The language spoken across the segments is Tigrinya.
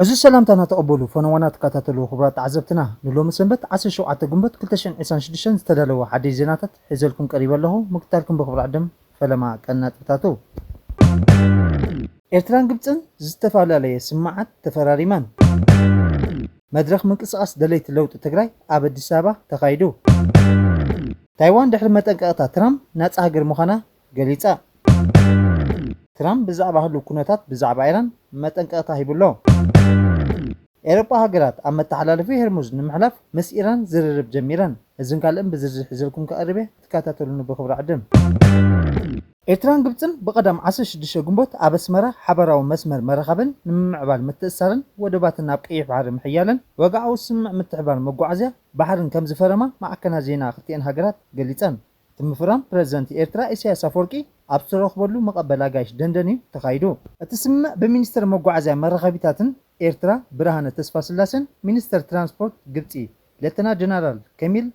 ዕዙዝ ሰላምታና ተቐበሉ ፈነዋና ትከታተሉ ክቡራት ተዓዘብትና ንሎሚ ሰንበት ዓሰርተ ሸውዓተ ግንቦት ክልተ ሽሕን ዒስራን ሽዱሽተን ዝተዳለወ ሓድሽ ዜናታት ሒዘልኩም ቀሪበ ኣለኹ ምክትታልኩም ብኽብሪ ዕድም ፈለማ ቀንዲ ነጥብታቱ። ኤርትራን ግብጽን ዝተፈላለየ ስምምዓት ተፈራሪመን። መድረኽ ምንቅስቓስ ደለይቲ ለውጢ ትግራይ ኣብ ኣዲስ ኣበባ ተኻይዱ። ታይዋን ድሕሪ መጠንቀቕታ ትራምፕ ናጻ ሃገር ምዃና ገሊጻ። ትራምፕ ብዛዕባ ህሉው ኩነታት ብዛዕባ ኢራን መጠንቀቕታ ሂቡ ኣሎ። ኤሮጳ ሃገራት ኣብ መተሓላለፊ ሄርሙዝ ንምሕላፍ ምስ ኢራን ዝርርብ ጀሚረን። እዝን ካልእን ብዝርዝር ሒዘልኩም ከቕርብ እየ። ተካታተሉኒ ብክብሪ ዕድም። ኤርትራን ግብጽን ብቀዳም ዓሰርተ ሽዱሽተ ግንቦት ኣብ ኣስመራ ሓባራዊ መስመር መራኸብን ንምምዕባል ምትእስሳርን ወደባትን ናብ ቀይሕ ባሕሪ ምሕያልን ወግዓዊ ስምምዕ ምትሕብባር መጓዓዝያ ባሕርን ከምዝፈረማ ማዕከናት ዜና ክልቲኤን ሃገራት ገሊጸን። እቲ ምፍራም ፕረዚደንት ኤርትራ ኢሳይያስ ኣፍወርቂ ኣብ ዝተረኽበሉ መቐበል ኣጋይሽ ደንደን'ዩ ተኻይዱ። እቲ ስምምዕ ብሚኒስተር መጓዓዝያን መራኸቢታትን ኤርትራ ብርሃነ ተስፋስላሴን ሚኒስተር ትራንስፖርት ግብጺ ሌተና ጀነራል ከሚል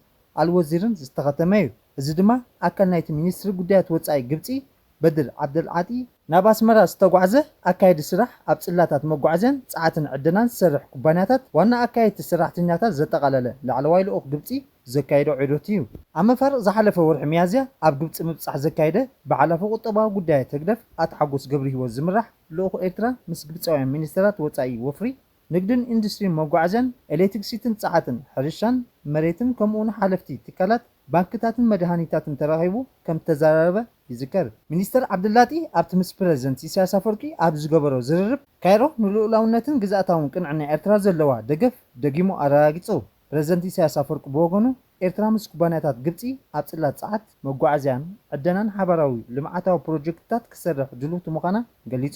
ኣልወዚርን ዝተኸተመ'ዩ። እዚ ድማ ኣካል ናይቲ ሚኒስትሪ ጉዳያት ወጻኢ ግብጺ በድር ዓብደልዓጢ፣ ናብ ኣስመራ ዝተጓዕዘ ኣካያዲ ስራሕ ኣብ ጽላታት መጓዓዝያን ጸዓትን ዕደናን ዝሰርሕ ኩባንያታት ዋና ኣካየድቲ ሰራሕተኛታት ዘጠቓለለ ላዕለዋይ ልኡኽ ግብጺ ዘካየዶ ዑደት'ዩ። ኣብ መፋርቕ ዝሓለፈ ወርሒ ሚያዝያ ኣብ ግብጺ ምብጻሕ ዘካየደ በዓል ኣፈ ቁጠባዊ ጉዳያት ህግደፍ ኣቶ ሓጎስ ገብርሂወት ዝምራሕ ልኡኽ ኤርትራ ምስ ግብጻውያን ሚኒስተራት ወጻኢ ወፍሪ ንግድን ኢንዱስትሪን መጓዓዝያን ኤሌትክሲቲን ጸዓትን ሕርሻን መሬትን ከምኡውን ሓለፍቲ ትካላት ባንክታትን መድሃኒታትን ተራኺቡ ከም እተዘራረበ ይዝከር። ሚኒስተር ዓብደላጢ ኣብቲ ምስ ፕረዚደንት ኢሳያስ ኣፈወርቂ ኣብ ዝገበሮ ዝርርብ፣ ካይሮ ንልኡላውነትን ግዝኣታውን ቅንዕና ኤርትራ ዘለዋ ደገፍ ደጊሙ ኣረጋጊጹ። ፕረዚደንት ኢሳያስ ኣፈወርቂ ብወገኑ፣ ኤርትራ ምስ ኩባንያታት ግብጺ ኣብ ጽላት ጸዓት፣ መጓዓዝያን ዕደናን ሓባራዊ ልምዓታዊ ፕሮጀክትታት ክትሰርሕ ድልውቲ ምዃና ገሊጹ።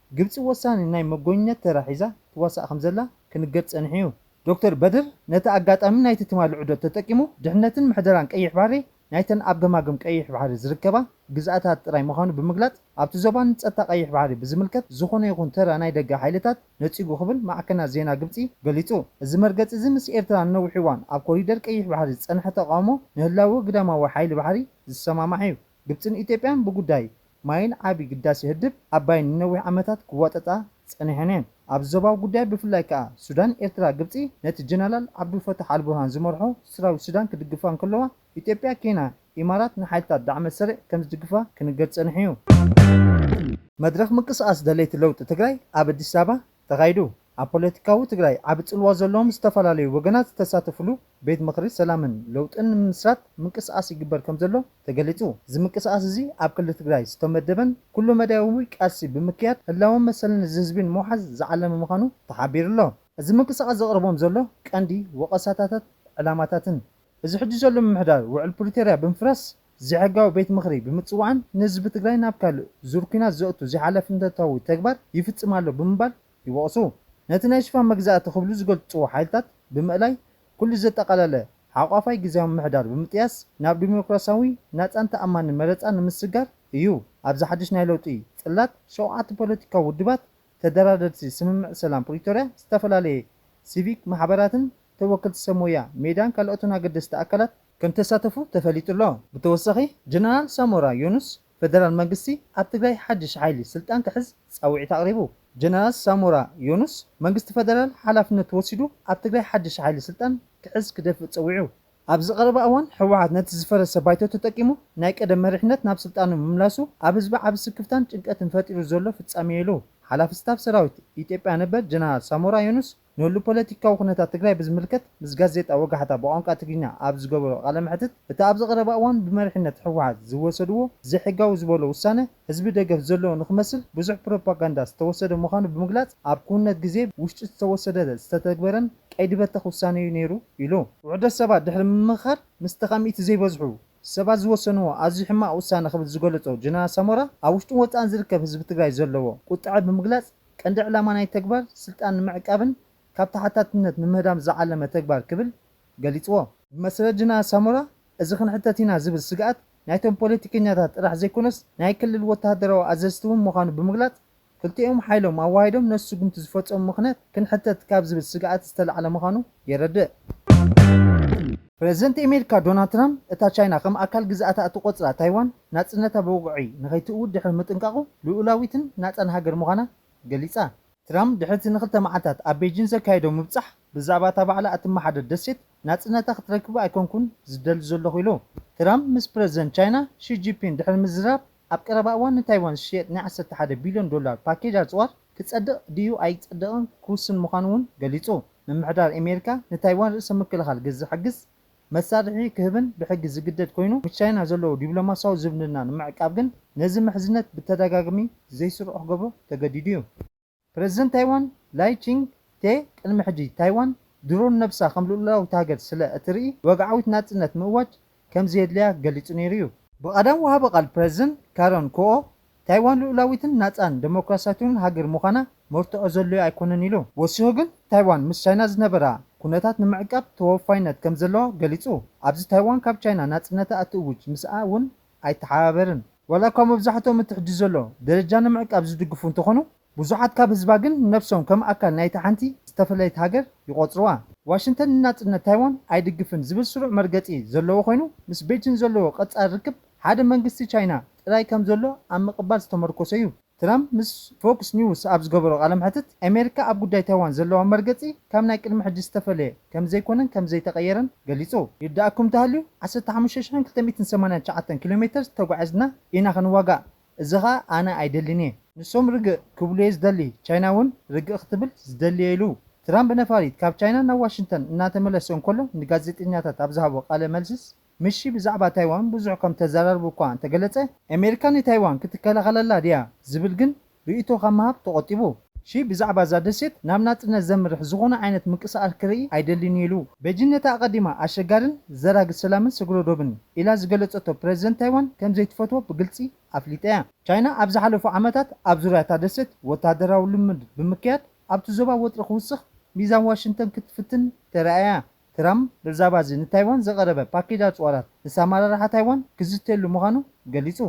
ግብጺ ወሳኒ ናይ መጎኝነት ተራ ሒዛ ትዋሳእ ከምዘላ ክንገር ጸኒሑ'ዩ። ዶክተር በድር ነቲ ኣጋጣሚ ናይቲ ትማሊ ዑደት ተጠቂሙ ድሕነትን ምሕደራን ቀይሕ ባሕሪ ናይተን ኣብ ገማግም ቀይሕ ባሕሪ ዝርከባ ግዝኣታት ጥራይ ምዃኑ ብምግላጽ ኣብቲ ዞባ ንጸጥታ ቀይሕ ባሕሪ ብዝምልከት ዝኾነ ይኹን ተራ ናይ ደገ ሓይልታት ነጺጉ ክብል ማዕከናት ዜና ግብጺ ገሊጹ። እዚ መርገጺ'ዚ ምስ ኤርትራ ንነዊሕ እዋን ኣብ ኮሪደር ቀይሕ ባሕሪ ዝጸንሐ ተቓውሞ ንህላወ ግዳማዊ ሓይሊ ባሕሪ ዝሰማማዕ'ዩ። ግብጽን ኢትዮጵያን ብጉዳይ ማይን ዓቢ ግዳሴ ህድብ ኣባይን ንነዊሕ ዓመታት ክዋጠጣ ጸኒሐን'የን። ኣብዚ ዞባዊ ጉዳይ ብፍላይ ከኣ ሱዳን፣ ኤርትራ፣ ግብጺ ነቲ ጀነላል ዓብዱል ፈታሕ ኣልቡርሃን ዝመርሖ ስራዊት ሱዳን ክድግፋ እንከለዋ፣ ኢትዮጵያ፣ ኬንያ፣ ኢማራት ንሓይልታት ዳዕመ ሰሪዕ ከምዝድግፋ ክንገር ጸኒሑ'ዩ። መድረኽ ምንቅስቓስ ደለይቲ ለውጢ ትግራይ ኣብ ኣዲስ ኣበባ ተኻይዱ ኣብ ፖለቲካዊ ትግራይ ዓቢ ጽልዋ ዘለዎም ዝተፈላለዩ ወገናት ዝተሳተፍሉ ቤት ምኽሪ ሰላምን ለውጥን ንምምስራት ምንቅስቓስ ይግበር ከምዘሎ ተገሊጹ። እዚ ምንቅስቓስ እዚ ኣብ ክልል ትግራይ ዝተመደበን ኩሉ መዳያዊ ቃልሲ ብምክያድ ህላወን መሰልን እዚ ህዝቢ ንምውሓስ ዝዓለመ ምዃኑ ተሓቢሩ ኣሎ። እዚ ምንቅስቓስ ዘቕርቦም ዘሎ ቀንዲ ወቐሳታታት ዕላማታትን እዚ ሕጂ ዘሎ ምምሕዳር ውዕል ፕሪቶርያ ብምፍራስ ዘይሕጋዊ ቤት ምኽሪ ብምፅዋዕን ንህዝቢ ትግራይ ናብ ካልእ ዙር ኲናት ዘእቱ ዘይሓላፍነታዊ ተግባር ይፍፅም ኣሎ ብምባል ይወቕሱ። ነቲ ናይ ሽፋን መግዛእቲ ክብሉ ዝገልፅዎ ሓይልታት ብምእላይ ኩሉ ዘጠቓለለ ሓቋፋይ ግዝያዊ ምምሕዳር ብምጥያስ ናብ ዲሞክራስያዊ፣ ናፃን ተኣማንን መረፃ ንምስግጋር እዩ። ኣብዚ ሓድሽ ናይ ለውጢ ፅላት ሸውዓተ ፖለቲካዊ ውድባት ተደራደርቲ ስምምዕ ሰላም ፕሪቶርያ፣ ዝተፈላለየ ሲቪክ ማሕበራትን ተወከልቲ ሰብ ሞያ ሜዳን ካልኦትን ኣገደስቲ ኣካላት ከምተሳተፉ ተፈሊጡ ኣሎ። ብተወሳኺ ጀነራል ሳሞራ ዮኑስ ፈደራል መንግስቲ ኣብ ትግራይ ሓድሽ ሓይሊ ስልጣን ክሕዝ ፃዊዒት ኣቕሪቡ። ጀነራል ሳሞራ ዮኑስ መንግስቲ ፈደራል ሓላፍነቱ ወሲዱ ኣብ ትግራይ ሓድሽ ሓይሊ ስልጣን ክሕዝ ክደፍእ ፀዊዑ። ኣብዚ ቀረባ እዋን ህወሓት ነቲ ዝፈረሰ ባይቶ ተጠቂሙ ናይ ቀደም መሪሕነት ናብ ስልጣኑ ምምላሱ ኣብ ህዝቢ ዓቢ ስክፍታን ጭንቀትን ፈጢሩ ዘሎ ፍፃሜ'ዩ ኢሉ ሓላፊ ስታፍ ሰራዊት ኢትዮጵያ ነበር ጀነራል ሳሞራ ዮኑስ። ንህሉው ፖለቲካዊ ኩነታት ትግራይ ብዝምልከት ምስ ጋዜጣ ወጋሕታ ብቋንቋ ትግርኛ ኣብ ዝገበሮ ቃለ መሕትት፣ እቲ ኣብዚ ቀረባ እዋን ብመሪሕነት ህወሓት ዝወሰድዎ ዘይሕጋዊ ዝበሎ ውሳነ፣ ህዝቢ ደገፍ ዘለዎ ንኽመስል ብዙሕ ፕሮፓጋንዳ ዝተወሰደ ምዃኑ ብምግላፅ፣ ኣብ ክውንነት ግዜ ውሽጢ ዝተወሰደ ዝተተግበረን ቀይዲ በተኽ ውሳነ'ዩ ነይሩ ኢሉ። ውሑዳት ሰባት ድሕሪ ምምኽኻር ምስ ተቓሚቲ ዘይበዝሑ ሰባት ዝወሰንዎ ኣዝዩ ሕማቕ ውሳነ ክብል ዝገለፆ ጀነራል ሳሞራ፣ ኣብ ውሽጥን ወፃእን ዝርከብ ህዝቢ ትግራይ ዘለዎ ቁጠዐ ብምግላፅ፣ ቀንዲ ዕላማ ናይቲ ተግባር ስልጣን ንምዕቃብን ካብ ተሓታትነት ንምህዳም ዝዓለመ ተግባር ክብል ገሊጽዎ። ብመስረት ጅነራል ሳሞራ እዚ ክንሕተት ኢና ዝብል ስግኣት ናይቶም ፖለቲከኛታት ጥራሕ ዘይኮነስ ናይ ክልል ወተሃደራዊ ኣዘዝቲ እውን ምዃኑ ብምግላጽ ክልቲኦም ሓይሎም ኣዋሂዶም ነቲ ስጉምቲ ዝፈጸሙ ምኽንያት ክንሕተት ካብ ዝብል ስግኣት ዝተላዕለ ምዃኑ የረድእ። ፕረዚደንት ኤሜሪካ ዶናልድ ትራምፕ እታ ቻይና ከም ኣካል ግዝኣታ እትቖጽራ ታይዋን ናጽነታ ብወግዒ ንኸይትእውጅ ድሕሪ ምጥንቃቑ፣ ልኡላዊትን ናጻን ሃገር ምዃና ገሊጻ። ትራምፕ ድሕሪ'ቲ ንኽልተ መዓልታት ኣብ ቤጂን ዘካየዶ ምብጻሕ፣ ብዛዕባ እታ ባዕላ እትመሓደር ደሴት ናጽነታ ክትረክብ ኣይኮንኩን ዝደሊ ዘለኹ ኢሉ። ትራምፕ ምስ ፕረዚደንት ቻይና ሺ ጂፒን ድሕሪ ምዝራብ፣ ኣብ ቀረባ እዋን ንታይዋን ዝሽየጥ ናይ ዓሰርተ ሓደ ቢልዮን ዶላር ፓኬጅ ኣጽዋር ክጸድቕ ድዩ ኣይጸድቕን ክውስን ምዃኑ'ውን ገሊጹ። ምምሕዳር ኣሜሪካ ንታይዋን ርእሰ ምክልኻል ግዝሕግዝ። መሳርሒ ክህብን ብሕጊ ዝግደድ ኮይኑ፣ ምስ ቻይና ዘለዎ ዲብሎማሲያዊ ዝምድና ንምዕቃብ ግን ነዚ ምሕዝነት ብተደጋግሚ ዘይስሩዕ ክገብሮ ተገዲዱ እዩ። ፕረዚደንት ታይዋን ላይ ቺንግ ቴ ቅድሚ ሕጂ ታይዋን ድሮ ንነብሳ ከም ልኡላዊት ሃገር ስለ እትርኢ ወግዓዊት ናጽነት ምእዋጅ ከም ዘየድልያ ገሊጹ ነይሩ እዩ። ብቀዳም ወሃቢ ቃል ፕረዚደንት ካረን ኩኦ ታይዋን ልኡላዊትን ናጻን ደሞክራስያትውን ሃገር ምዃና መርትዖ ዘሎዮ ኣይኮነን ኢሉ። ወሲኹ ግን ታይዋን ምስ ቻይና ዝነበራ ኩነታት ንምዕቃብ ተወፋይነት ከም ዘለዋ ገሊጹ። ኣብዚ ታይዋን ካብ ቻይና ናጽነታ እትእውጅ ምስኣ እውን ኣይተሓባበርን። ዋላ'ኳ መብዛሕትኦም እቲ ሕጂ ዘሎ ደረጃ ንምዕቃብ ዝድግፉ እንተኾኑ፣ ብዙሓት ካብ ህዝባ ግን ነብሶም ከም ኣካል ናይታ ሓንቲ ዝተፈለየት ሃገር ይቖጽርዋ። ዋሽንተን ንናጽነት ታይዋን ኣይድግፍን ዝብል ስሩዕ መርገጺ ዘለዎ ኮይኑ፣ ምስ ቤጂን ዘለዎ ቀጻሊ ርክብ ሓደ መንግስቲ ቻይና ጥራይ ከም ዘሎ ኣብ ምቕባል ዝተመርኮሰ'ዩ። ትራምፕ ምስ ፎክስ ኒውስ ኣብ ዝገበሮ ቃለ መሕትት፣ ኣሜሪካ ኣብ ጉዳይ ታይዋን ዘለዋ መርገጺ ካብ ናይ ቅድሚ ሕጂ ዝተፈለየ ከም ዘይኮነን ከም ዘይተቐየረን ገሊጹ። ይርድኣኩም እንተሃልዩ ዓሰርተ ሓሙሽተ ሽሕን ክልተ ሚእትን ሰማንያን ትሽዓተን ኪሎሜተር ተጓዒዝና ኢና ክንዋጋእ። እዚ ከኣ ኣነ ኣይደልን'የ ንሶም ርግእ ክብሉ'የ ዝደሊ ቻይና'ውን ርግእ ክትብል ዝደሊ'የ ኢሉ። ትራምፕ ነፋሪት ካብ ቻይና ናብ ዋሽንግተን እናተመለሰ እንከሎ ንጋዜጠኛታት ኣብ ዝሃቦ ቃለ መልስስ ምሺ ብዛዕባ ታይዋን ብዙሕ ከም እተዘራረቡ እኳ እንተገለጸ፣ ኣሜሪካ ንታይዋን ክትከላኸለላ ድያ ዝብል ግን ርእይቶ ካብ ምሃብ ተቖጢቡ። ሺ ብዛዕባ እዛ ደሴት ናብ ናጽነት ዘምርሕ ዝኾነ ዓይነት ምንቅስቓስ ክርኢ ኣይደልን'ዩ ኢሉ። ቤጂን ነቲ ኣቐዲማ ኣሸጋርን ዘራጊ ሰላምን ስግረ ዶብን ኢላ ዝገለጸቶ ፕረዚደንት ታይዋን ከም ዘይትፈትዎ ብግልጺ ኣፍሊጣ'ያ። ቻይና ኣብ ዝሓለፉ ዓመታት ኣብ ዙርያ እታ ደሴት ወተሃደራዊ ልምምድ ብምክያድ ኣብቲ ዞባ ወጥሪ ክውስኽ ሚዛን ዋሽንግተን ክትፍትን ተራእያ'ያ። ትራም ብዛባዚ ንታይዋን ዘቐረበ ፓኬጅ ኣጽዋራት ምስ ኣመራርሓ ታይዋን ክዝተየሉ ምዃኑ ገሊጹ።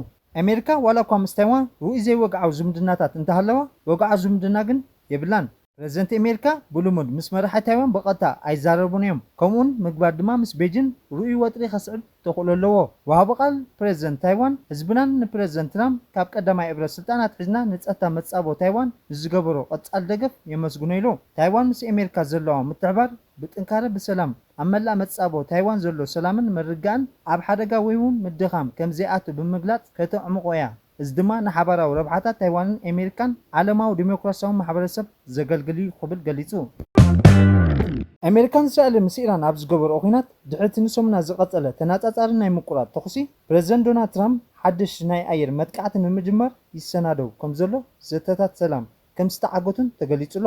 ኣሜሪካ ዋላ'ኳ ምስ ታይዋን ርኡይ ዘይወግዓዊ ዝምድናታት እንተሃለዋ፣ ወግዓዊ ዝምድና ግን የብላን። ፕረዚደንት ኣሜሪካ ብልሙድ ምስ መራሒ ታይዋን ብቐጥታ ኣይዛረቡን'ዮም፣ ከምኡ'ውን ምግባር ድማ ምስ ቤጂን ርኡይ ወጥሪ ከስዕብ ተኽእሎ ኣለዎ። ወሃቢ ቃል ፕረዚደንት ታይዋን፣ ህዝብናን ንፕረዚደንት ትራም ካብ ቀዳማይ እብረ ስልጣን ኣትሒዝና ንጸታ መጻብቦ ታይዋን ንዝገበሮ ቀጻሊ ደገፍ የመስግኖ ኢሉ። ታይዋን ምስ ኣሜሪካ ዘለዋ ምትሕብባር፣ ብጥንካረ ብሰላም ኣብ መላእ መጻብቦ ታይዋን ዘሎ ሰላምን ምርግጋእን ኣብ ሓደጋ ወይውን ምድኻም ከም ዘይኣቱ ብምግላጽ ከተዕምቖ እያ፣ እዚ ድማ ንሓባራዊ ረብሓታት ታይዋንን ኤሜሪካን ዓለማዊ ደሞክራሲያዊ ማሕበረሰብ ዘገልግል እዩ ክብል ገሊጹ። ኤሜሪካን እስራኤልን ምስ ኢራን ኣብ ዝገበርኦ ኲናት ድሕሪ እቲ ንሰሙናት ዝቐጸለ ተነጻጻሪ ናይ ምቁራጽ ተኹሲ፣ ፕረዚደንት ዶናልድ ትራምፕ ሓድሽ ናይ ኣየር መጥቃዕቲ ንምጅማር ይሰናደው ከም ዘሎ ዘተታት ሰላም ከም ዝተዓገቱን ተገሊጹ ኣሎ።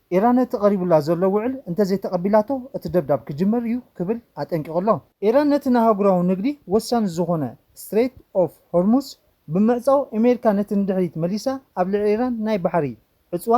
ኢራን ነቲ ቀሪቡላ ዘሎ ውዕል እንተዘይተቐቢላቶ እቲ ደብዳብ ክጅምር እዩ ክብል ኣጠንቂቑ ኣሎ። ኢራን ነቲ ንኣህጉራዊ ንግዲ ወሳኒ ዝኾነ ስትሬት ኦፍ ሆርሙዝ ብምዕጻው ኣሜሪካ ነቲ ንድሕሪት መሊሳ ኣብ ልዕሊ ኢራን ናይ ባሕሪ ዕጽዋ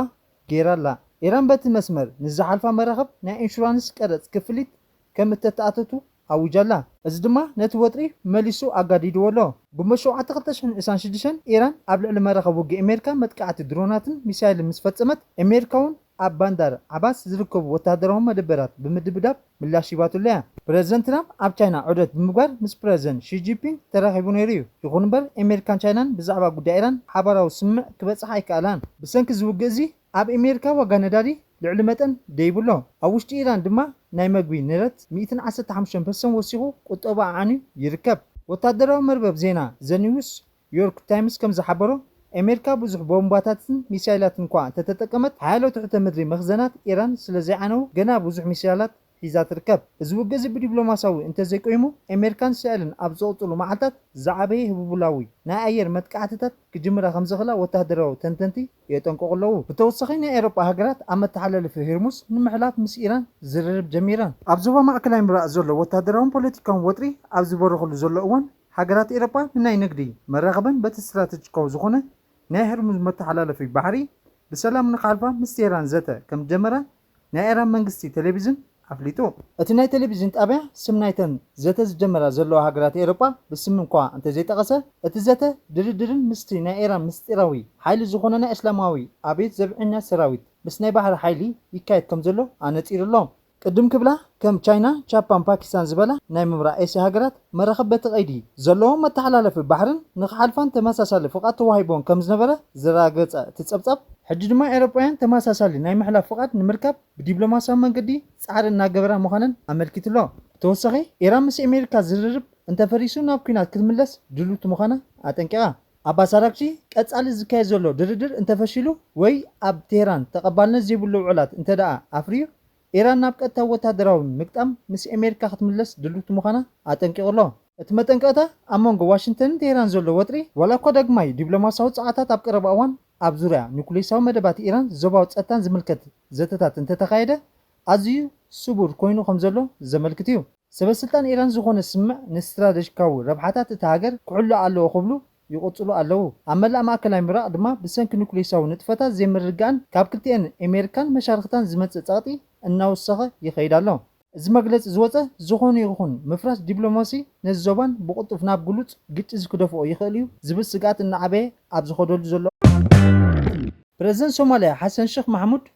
ገይራ ኣላ። ኢራን በቲ መስመር ንዝሓልፋ መራኽብ ናይ ኢንሹራንስ ቀረጽ ክፍሊት ከም እተተኣተቱ ኣዊጃ ኣላ። እዚ ድማ ነቲ ወጥሪ መሊሱ ኣጋዲድዎ ኣሎ። ግንቦት ሸውዓተ ክልተ ሽሕን ዕስራን ሽዱሽተን ኢራን ኣብ ልዕሊ መራኸቢ ውግእ ኣሜሪካ መጥቃዕቲ ድሮናትን ሚሳይልን ምስ ፈጸመት፣ ኣሜሪካ'ውን ኣብ ባንዳር ዓባስ ዝርከቡ ወተሃደራዊ መደበራት ብምድብዳብ ምላሽ ሂባትሉ እያ። ፕረዚደንት ትራምፕ ኣብ ቻይና ዑደት ብምግባር ምስ ፕረዚደንት ሺ ጂንፒንግ ተራኺቡ ነይሩ እዩ። ይኹን'ምበር ኣሜሪካን ቻይናን ብዛዕባ ጉዳይ ኢራን ሓባራዊ ስምምዕ ክበጽሓ ኣይከኣላን። ብሰንኪ እዚ ውግእ'ዚ ኣብ ኤሜሪካ ዋጋ ነዳዲ ልዕሊ መጠን ደይቡ ኣሎ። ኣብ ውሽጢ ኢራን ድማ ናይ መግቢ ንረት ሚእትን ዓሰርተ ሓሙሽተን ፐርሰን ወሲኹ ቁጠባ ኣዕንዩ ይርከብ። ወታደራዊ መርበብ ዜና ዘ ኒውስ ዮርክ ታይምስ ከም ዝሓበሮ፣ ኤሜሪካ ብዙሕ ቦምባታትን ሚሳይላትን'ኳ እንተተጠቀመት፣ ሓያሎ ትሕተ ምድሪ መኽዘናት ኢራን ስለ ዘይዓነዉ ገና ብዙሕ ሚሳይላት ሒዛ ትርከብ። እዚ ውግእዚ ብዲብሎማሲያዊ እንተዘይቆይሙ ኤሜርካን ስዐልን ኣብ ዝቕጽሉ መዓልታት ዝዓበየ ህቡቡላዊ ናይ ኣየር መጥቃዕትታት ክጅምራ ከምዝኽላ ወተሃደራዊ ተንተንቲ የጠንቅቑ ኣለዉ። ብተወሳኺ ናይ ኤሮጳ ሃገራት ኣብ መተሓላለፊ ህርሙዝ ንምሕላፍ ምስ ኢራን ዝርርብ ጀሚረን። ኣብ ዞባ ማእከላይ ምብራቕ ዘሎ ወተሃደራውን ፖለቲካውን ወጥሪ ኣብ ዝበረኸሉ ዘሎ እዋን ሃገራት ኤሮጳ ንናይ ንግዲ፣ መራኽብን በቲ ስትራተጂካዊ ዝኾነ ናይ ህርሙዝ መተሓላለፊ ባሕሪ ብሰላም ንክሓልፋ ምስ ቴህራን ዘተ ከምዝጀመራ ናይ ኢራን መንግስቲ ቴሌቪዝን ኣፍሊጡ። እቲ ናይ ቴሌቪዝን ጣብያ ስም ናይተን ዘተ ዝጀመራ ዘለዋ ሃገራት ኤሮጳ ብስም እኳ እንተዘይጠቐሰ፣ እቲ ዘተ ድርድርን ምስቲ ናይ ኢራን ምስጢራዊ ሓይሊ ዝኾነ ናይ እስላማዊ ኣብዮት ዘብዐኛ ሰራዊት ምስ ናይ ባሕሪ ሓይሊ ይካየድ ከምዘሎ ኣነጺሩ ኣሎ። ቅድም ክብላ ከም ቻይና፣ ቻፓን ፓኪስታን ዝበላ ናይ ምብራቕ ኤስያ ሃገራት፣ መራኽብ በቲ ቀይዲ ዘለዎም መተሓላለፊ ባሕርን ንኽሓልፋን ተመሳሳሊ ፍቓድ ተዋሂቡወን ከምዝነበረ ዘረጋገጸ እቲ ጸብጻብ፣ ሕጂ ድማ ኤውሮጳውያን ተመሳሳሊ ናይ ምሕላፍ ፍቓድ ንምርካብ ብዲፕሎማስያዊ መንገዲ ጻዕሪ እናገበራ ምዃነን ኣመልኪቱ'ሎ። ብተወሳኺ ኢራን ምስ ኣሜሪካ ዝርርብ እንተፈሪሱ ናብ ኲናት ክትምለስ ድልውቲ ምዃና ኣጠንቂቓ። ኣባስ ኣራግቺ፣ ቀጻሊ ዝካየድ ዘሎ ድርድር እንተፈሺሉ ወይ ኣብ ቴህራን ተቐባልነት ዘይብሉ ውዕላት እንተድኣ ኣፍርዩ፣ ኢራን ናብ ቀጥታዊ ወተሃደራዊ ምግጣም ምስ ኣሜሪካ ክትምለስ ድልውቲ ምዃና ኣጠንቂቑ ኣሎ። እቲ መጠንቀቕታ፣ ኣብ መንጎ ዋሽንግተንን ቴህራንን ዘሎ ወጥሪ፣ ዋላ'ኳ ዳግማይ ዲፕሎማስያዊ ጻዕርታት ኣብ ቀረባ እዋን ኣብ ዙርያ ኑክሌሳዊ መደባት ኢራን ዞባዊ ጸጥታን ዝምልከት ዘተታት እንተተኻየደ፣ ኣዝዩ ስቡር ኮይኑ ከምዘሎ ዘመልክት'ዩ። ሰበስልጣን ኢራን ዝኾነ ስምምዕ ንስትራደጂካዊ ረብሓታት እታ ሃገር ክሕሎ ኣለዎ ክብሉ ይቕጽሉ ኣለዉ። ኣብ መላእ ማእከላይ ምብራቕ ድማ ብሰንኪ ኑክሌሳዊ ንጥፈታት ዘይምርግጋእን ካብ ክልቲኤን ኤሜሪካን መሻርኽታን ዝመጽእ ጸቕጢ እናወሰኸ ይኸይድ ኣሎ። እዚ መግለጺ ዝወጸ ዝኾነ ይኹን ምፍራስ ዲፕሎማሲ ነዚ ዞባን ብቕልጡፍ ናብ ግሉጽ ግጭት ክደፍኦ ይኽእል'ዩ ዝብል ስግኣት እናዓበየ ኣብ ዝኸደሉ ዘሎ ፕረዚደንት ሶማልያ ሓሰን ሸኽ ማሕሙድ፣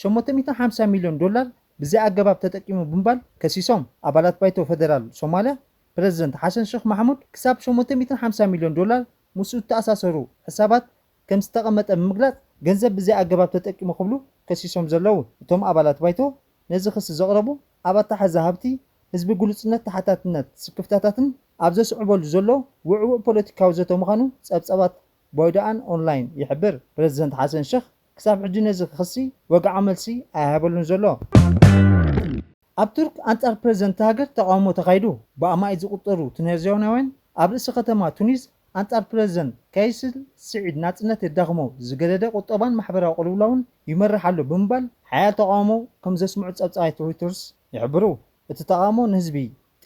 ሸሞንተ ሚእቲ ሓምሳ ሚልዮን ዶላር ብዘይኣገባብ ተጠቂሙ ብምባል ከሲሶም። ኣባላት ባይቶ ፈደራል ሶማልያ፣ ፕረዚደንት ሓሰን ሸኽ ማሕሙድ ክሳብ ሸሞንተ ሚእትን ሓምሳን ሚልዮን ዶላር ምስኡ ዝተኣሳሰሩ ሕሳባት ከምዝተቐመጠ ብምግላጽ ገንዘብ ብዘይኣገባብ ተጠቂሙ ክብሉ ከሲሶም ዘለዉ እቶም ኣባላት ባይቶ ነዚ ክሲ ዘቕረቡ ኣብ ኣተሓሕዛ ሃብቲ ህዝቢ ግሉጽነት ተሓታትነት ስክፍታታትን ኣብ ዘስዕበሉ ዘሎ ውዕዉዕ ፖለቲካዊ ዘተ ምዃኑ ጸብጻባት ባይዶኣን ኦንላይን ይሕብር። ፕረዚደንት ሓሰን ሸኽ ክሳብ ሕጂ ነዚ ክሲ ወግዓ መልሲ ኣይሃበሉን ዘሎ። ኣብ ቱርክ ኣንጻር ፕረዚደንት'ታ ሃገር ተቓውሞ ተኻይዱ። ብኣማኢት ዝቑጸሩ ቱነዝያውናውያን ኣብ ርእሲ ከተማ ቱኒዝ ኣንጻር ፕረዚደንት ካይስ ስዒድ ናጽነት የዳኽሞ፣ ዝገደደ ቁጠባን ማሕበራዊ ቅልውላውን ይመርሕ ኣሎ ብምባል ሓያል ተቓውሞ ከምዘስምዑ ጸብጻባት ሮይተርስ ይሕብሩ። እቲ ተቓውሞ ንህዝቢ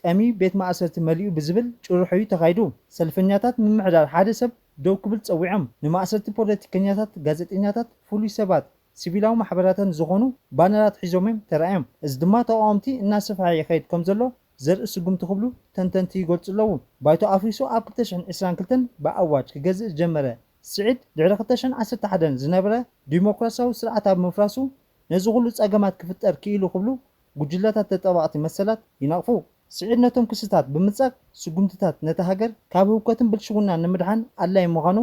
ጠምዩ ቤት ማእሰርቲ መሊኡ ብዝብል ጭርሖ'ዩ ተኻይዱ። ሰልፈኛታት ምምሕዳር ሓደ ሰብ ደው ክብል ጸዊዖም። ንማእሰርቲ ፖለቲከኛታት፣ ጋዜጠኛታት፣ ፍሉይ ሰባት፣ ሲቪላዊ ማሕበራተን ዝኾኑ ባነራት ሒዞም'ዮም ተራእዮም። እዚ ድማ ተቓወምቲ እናሰፍሐ ይኸይድ ከምዘሎ ዘርኢ ስጉምቲ ክብሉ ተንተንቲ ይገልጹ ኣለዉ። ባይቶ ኣፍሪሱ ኣብ ክልተ ሽሕን ዕስራን ክልተን ብኣዋጅ ክገዝእ ዝጀመረ ስዒድ፣ ድሕሪ ክልተ ሽሕን ዓሰርተ ሓደን ዝነበረ ዲሞክራስያዊ ስርዓት ኣብ ምፍራሱ ነዚ ኹሉ ጸገማት ክፍጠር ክኢሉ ክብሉ ጉጅለታት ተጣባቕቲ መሰላት ይነቕፉ። ስዒድ ነቶም ክስታት ብምንጻግ ስጉምትታት ነታ ሃገር ካብ ህውከትን ብልሽውናን ንምድሓን ኣድላዪ ምዃኑ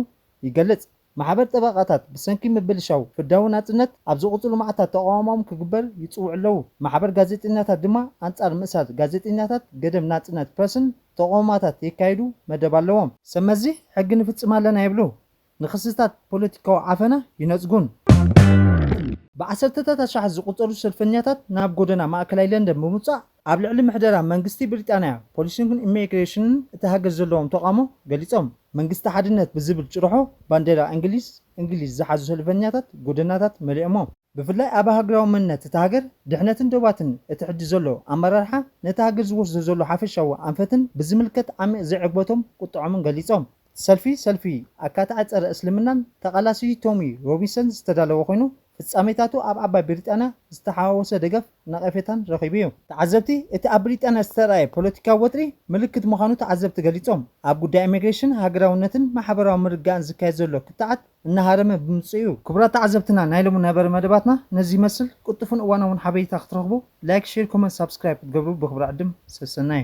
ይገልጽ። ማሕበር ጠበቓታት ብሰንኪ ምብልሻው ፍርዳዊ ናጽነት ኣብ ዝቕጽሉ መዓልታት ተቓውሞኦም ክግበር ይጽውዑ ኣለዉ። ማሕበር ጋዜጠኛታት ድማ ኣንጻር ምእሳር ጋዜጠኛታት ገደብ ናጽነት ፕረስን ተቐውማታት የካይዱ መደብ ኣለዎም። ሰብመዚ ሕጊ ንፍጽም ኣለና ይብሉ። ንክስታት ፖለቲካዊ ዓፈና ይነጽጉን። ብዓሰርተታት ኣሽሓት ዝቑጸሩ ሰልፈኛታት ናብ ጎደና ማእከላይ ለንደን ብምውጻእ፣ ኣብ ልዕሊ ምሕደራ መንግስቲ ብሪጣንያ፣ ፖሊስን ኢሚግሬሽንን እታ ሃገር ዘለዎም ተቓውሞ ገሊጾም። መንግስቲ ሓድነት ብዝብል ጭርሖ ባንዴራ እንግሊዝ እንግሊዝ ዝሓዙ ሰልፈኛታት ጎደናታት መሊኦሞ። ብፍላይ ኣብ ሃገራዊ መንነት እታ ሃገር፣ ድሕነትን ዶባትን እቲ ሕጂ ዘሎ ኣመራርሓ ነታ ሃገር ዝወስዶ ዘሎ ሓፈሻዊ ኣንፈትን ብዝምልከት ዓሚቕ ዘይዕግበቶም ቁጠዖምን ገሊጾም። ሰልፊ ሰልፊ ኣካታዒ ጸረ እስልምናን ተቓላሲይ ቶሚ ሮቢንሰን ዝተዳለወ ኮይኑ፣ ፍጻሜታቱ ኣብ ዓባይ ብሪጣንያ ዝተሓዋወሰ ደገፍ ነቐፌታን ረኺቡ'ዩ። ተዓዘብቲ፣ እቲ ኣብ ብሪጣንያ ዝተርኣየ ፖለቲካዊ ወጥሪ ምልክት ምዃኑ ተዓዘብቲ ገሊጾም። ኣብ ጉዳይ ኢሚግሬሽን፣ ሃገራውነትን ማሕበራዊ ምርግጋእን ዝካየድ ዘሎ ክትዓት፣ እናሃረመ ብምጽኡ'ዩ። ክቡራት ተዓዘብትና ናይ ሎሚ ነበረ መደባትና ነዚ ይመስል፣ ቅልጡፍን እዋናውን ሓበሬታ ክትረኽቡ ላይክ ሼር ኮመንት ሳብስክራይብ ክትገብሩ ብኽብሪ ዕድም፣ ሰሰናዩ።